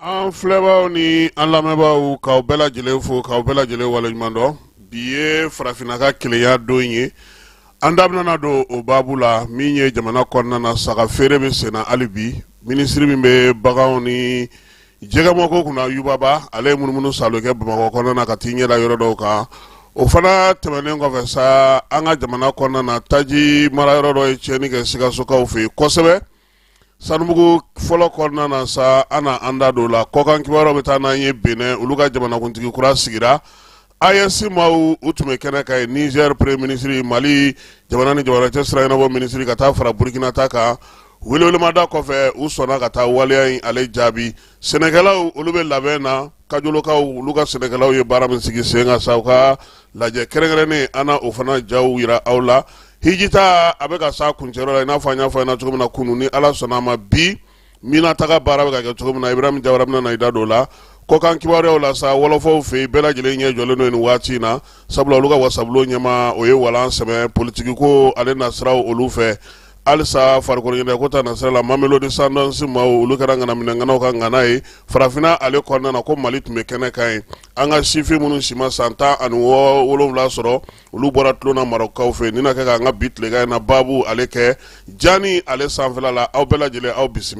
an filɛbaaw ni an lamɛnbaaw k'aw bɛɛ lajɛlen fo k'aw bɛɛ lajɛlen waleɲuman dɔn bi ye farafinna ka kelenya don ye an da bɛna don o baabu la min ye jamana kɔnɔna na saga feere bɛ senna hali bi minisiri min bɛ baganw ni jɛgɛmɔnko kunna yuba ba ale ye munumunu saalo kɛ bamakɔ kɔnɔna na ka t'i ɲɛda yɔrɔ dɔw kan o fana tɛmɛnen kɔfɛ sa an ka jamana kɔnɔna na taji mara yɔrɔ dɔ ye tiɲɛni kɛ sikasokaw fɛ yen kosɛbɛ sanubugu fɔlɔ kɔnɔna na sa an na an da don o la kɔkan kibaruyaw bɛ taa n'an ye benɛn olu ka jamanakuntigi kura sigira AES maaw u tun bɛ kɛnɛ kan yen nizɛri peremiye minisiri mali jamana ni jamana cɛ sira ɲɛnabɔ minisiri ka taa fara burikina ta kan welewelemada kɔfɛ u sɔnna ka taa waleya in ale jaabi sɛnɛkɛlaw olu bɛ labɛn na kajolokaw olu ka sɛnɛkɛlaw ye baara min sigi sen kan sa u ka lajɛ kɛrɛnkɛrɛnnen an na o fana jaw yira aw la hiji ta a bɛ ka s'a kuncɛli la i n'a fɔ an y'a fɔ aw ɲɛ na cogo min na kunun ni ala sɔnna a ma bi mina taga baara bɛ ka kɛ cogo min na ibrahim jawara bɛna na i da don o la kɔkan kibaruyaw la sa wɔlɔfɔw fɛ yen bɛɛ lajɛlen ɲɛ jɔlen don nin waati in na sabula olu ka wasabulon ɲɛmaa o ye walan sɛmɛ politigiko ale nasiraw olu fɛ halisa farikolo ɲɛnajɛko ta nasira la Mamelodi Sundowns maaw olu kɛra ŋanaminɛŋanaw ka ŋana ye farafinna ale kɔnɔna na ko Mali tun bɛ kɛnɛ kan yen an ka sifin minnu si ma san tan ani wolonwula sɔrɔ olu bɔra tulon na Marɔkukaw fɛ nin na kɛ ka an ka bi tilegan in na baabu ale kɛ Jani ale sanfɛla la aw bɛɛ lajɛlen aw bisimila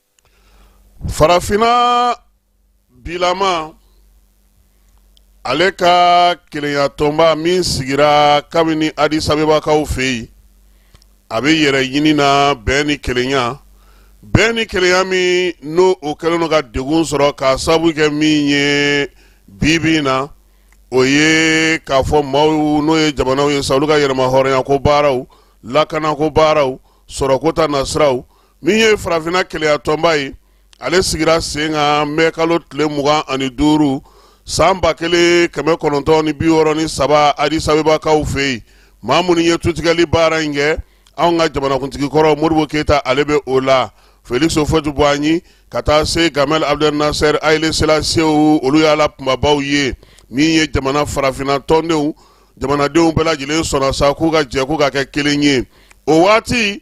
farafinna bilama ale ka kelenyatɔnba min sigira kabini adisabebakaw fɛ yen a bɛ yɛrɛ ɲini na bɛn ni kelenya bɛn ni kelenya min n'o o kɛlen don ka degun sɔrɔ k'a sababu kɛ min ye bibi in na o ye k'a fɔ maaw n'o ye jamanaw ye sa olu ka yɛrɛmahɔrɔnya ko baaraw lakana ko baaraw sɔrɔko ta nasiraw min ye farafinna kelenyatɔnba ye ale sigira sen kan mɛ kalo tile mugan ani duuru san ba kelen kɛmɛ kɔnɔntɔn ni bi wɔɔrɔ ni saba adisabebakaw fɛ yen maa minnu ye tutigɛli baara in kɛ anw ka jamanakuntigi kɔrɔ modibo keyita ale bɛ o la feliksi ufuwɛti buwanyi ka taa se gamal abdel nasɛr ayile selasiyew olu y'a la kunbabaw ye min ye jamana farafinna tɔndenw jamanadenw bɛɛ lajɛlen sɔnna sa k'u ka jɛ k'u ka kɛ kelen ye o waati